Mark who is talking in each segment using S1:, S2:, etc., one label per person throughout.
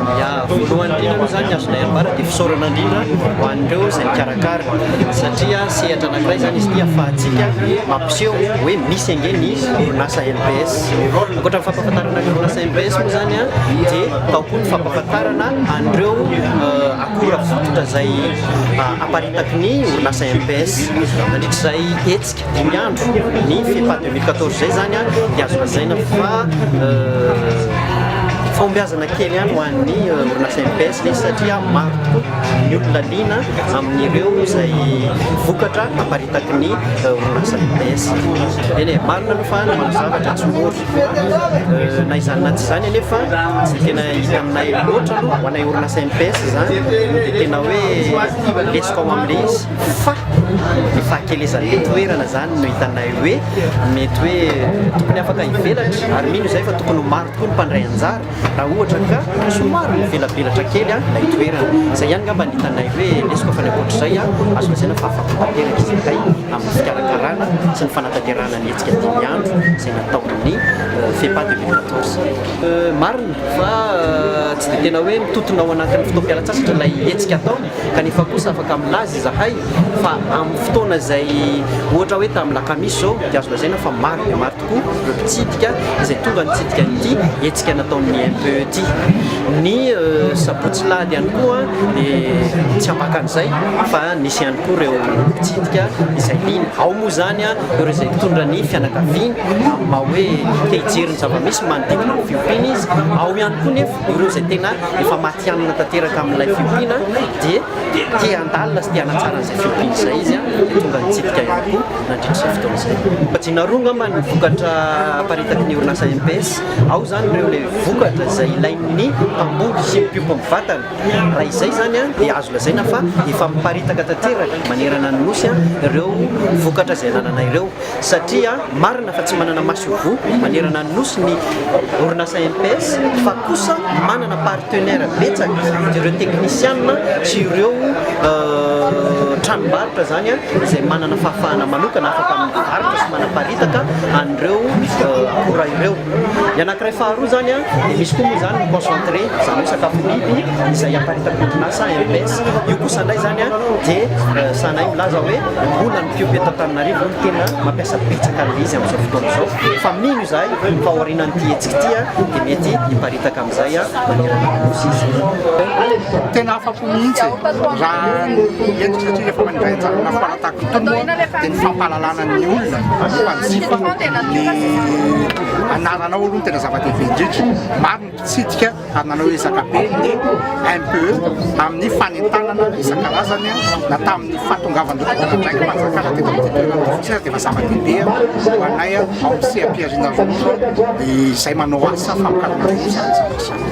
S1: Ya, voalohany indrindra aloha izany ny azonay ambara dia fisaorana indrindra ho an'ireo izay nikarakara satria sehatra anankiray izany izy ity ahafahantsika mampiseho hoe misy ange ny orinasa mbs. Ankoatra ny fampahafantarana ny orinasa mbs moa izany dia tao koa ny fampahafantarana an'ireo akora fototra izay aparitaky ny orinasa mbs nandritra izay hetsika. dimy andro ny fifa deux mille quatorze zay zany a dia azo lazaina fa fahombiazana kely any ho an'ny orinasa MPS izy satria maro tokoa ny olona liana amin'ireo izay vokatra aparitaky ny orinasa MPS eny e marina aloha fa manao zavatra tsy mora na izany na tsy izany anefa tsy tena hita aminay loatra aloha ho anay orinasa MPS izany dia tena hoe lesika ao amin'ilay izy fa ny fahakelezan'ny toerana izany no hitanay hoe mety hoe tokony afaka hivelatra ary mino izay fa tokony ho maro tokoa ny mpandray anjara raha ohatra ka somary mivelabelatra kely ilay toerana izay ihany ngamba ny hitanay hoe lesoka fa ny ankoatr'izay azo lazaina fa afaka tanteraka izy iray amin'ny fikarakarana sy ny fanatanterahana ny hetsika dimy andro izay nataon'ny FEPA 2014 marina fa tsy dia tena hoe mitotona ao anatin'ny fotoam-pialantsasatra ilay hetsika atao Kanefa kosa afaka milaza izahay fa amin'ny fotoana izay ohatra hoe tamin'ny lakamisy izao dia azo lazaina fa maro dia maro tokoa ireo mpitsidika izay tonga nitsidika an'ity hetsika nataon'ny MPE ity. Ny sabotsy alahady ihany koa dia tsy ambaka an'izay fa nisy ihany koa ireo mpitsidika izay liana. Ao moa izany ireo izay nitondra ny fianakaviany amin'ny maha hoe te hijery ny zava-misy manodidina ny fiompiana izy, ao ihany koa nefa Ireo izay tena efa matihanina tanteraka amin'ilay fiompiana dia te handalina sy te hanatsara an'izay fiompiana izay izy dia tonga nitsidika ihany koa nandritra izao fotoana izay. Kajiana roa angamba ny vokatra aparitaky ny orinasa MPS. Ao izany ireo ilay vokatra izay ilain'ny mpamboly sy ny mpiompy amin'ny vatany. Raha izay izany dia azo lazaina fa efa miparitaka tanteraka manerana ny Nosy ireo vokatra izay ananana ireo. satria marina fa tsy manana masoivoho manerana ny Nosy ny orinasa MPS fa kosa manana partenaire betsaka ireo teknisiana sy ireo tranombarotra izany izay manana fahafahana manokana afaka mivarotra sy manaparitaka an'ireo akora ireo. Ny anankiray faharoa izany dia misy koa moa izany ny concentré izany hoe sakafo biby izay aparitaky orinasa MPS. Io kosa indray izany dia sahanay milaza hoe mbola Ethiopie eto Antananarivo no tena mampiasa betsaka an'ilay izy amin'izao fotoana izao fa mino izahay fa aorianan'ity hetsika ity dia mety hiparitaka amin'izay manerana ny nosy izy.
S2: Tena afa-po mihitsy raha ny hetsika satria rehefa mandray anjara foana tahaka itony moa dia ny fampahalalana ny olona ny mpanjifa ny anaranao aloha no tena zava-dehibe indrindra. mpitsidika ary nanao ezaka be ny MPE amin'ny fanentanana isan-karazany na tamin'ny fahatongavan'ireo tomponandraiki-panjakana teto amin'ity toerana ity fotsiny ary dia efa zava-dehibe ho anay ao amin'ny seha-pihariana ronono izay manao asa famokarana ronono isan-karazany.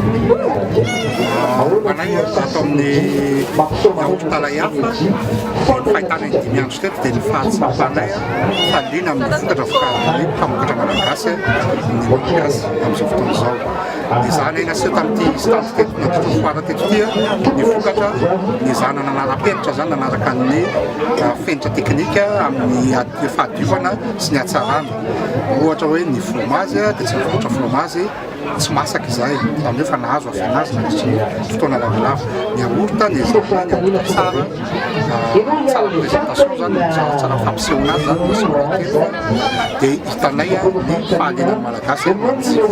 S2: Ho anay ato amin'ny hopitaly Ahiafa, ny fahitana ny dimy andro teto dia ny fahatsapanay fa liana amin'ny vokatra vokarin'ny mpamokatra malagasy ny mampiasa amin'izao fotoana izao. Dia zahana eny aseho tamin'ity stand teto na tontolo foara teto ity ny vokatra ny zahana nanara-penitra zany nanaraka ny ah, fenitra teknika amin'ny fahadiovana sy ny hatsarana. Ohatra hoe ny fromazy dia tsy ny vokatra fromazy tsy masaka izay, izany hoe efa nahazo avy an' azy nandritry ny fotoana lavalava. Ny yaourt dia zavatra yaourt tsara, tsara présentation izany, tsara tsara fampisehoana azy izany, misy yaourt kely izany, dia hitanay ny fahaliana ny Malagasy amin'ny matsiro.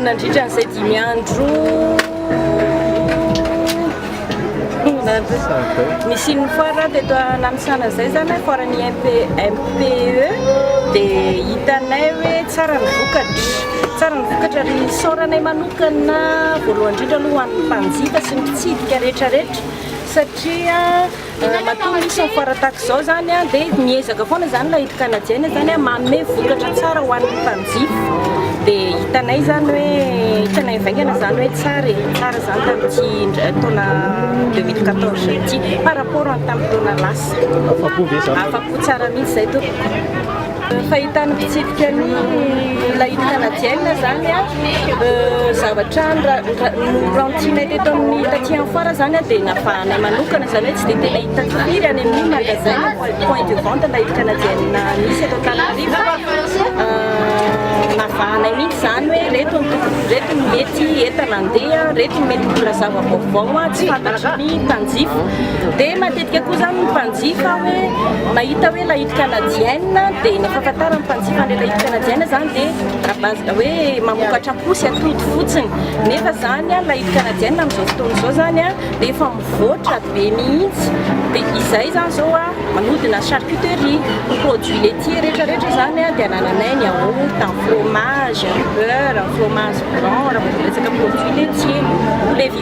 S3: Nandritra an'izay dimy andro. Nisian'ny foire teto Nanisana izay izany, foire ny MPE, dia hitanay hoe tsara ny vokatra, tsara ny vokatra ary isaoranay manokana voalohany indrindra aloha ho an'ny mpanjifa sy ny mpitsidika rehetra rehetra satria Matoa misy ny foire tahaka izao izany dia miezaka foana izany ilay Kanadiana izany manome vokatra tsara ho an'ny mpanjifa. Dia hitanay izany hoe hitanay mivaingana izany hoe tsara e, tsara izany tamin'ity taona 2014 ity par rapport amin'ny tamin'ny taona lasa. Afa-po ve izany? Afa-po tsara mihitsy izay tompoko. Fahitan'ny mpitsirika ny lahity kanadienina zany a, zavatra norantinay teto amin'ny taty amin'ny foara zany a dia nafahanay manokana zany hoe tsy dia tena hita firy any amin'ny magasin na point de vente lahity kanadienina misy eto Antananarivo fa navahanay mihitsy zany hoe reto ny tokony reto ny mety entana andeha reto ny mety mbola zava-baovao tsy fantatry ny mpanjifa dia matetika Midika koa izany ny mpanjifa hoe mahita hoe lahity canadienne dia ny fahafantaran'ny mpanjifa an'ilay lahity canadienne izany dia à base hoe mamokatra posy atody fotsiny. Nefa izany lahity canadienne amin'izao fotoana izao izany dia efa mivoatra be mihitsy. Dia izay izany izao manodina charcuterie, ny produits laitiers rehetra rehetra izany dia anananay ny yaourt, ny fromage, ny beurre, ny fromage blanc raha vao resaka produits laitiers.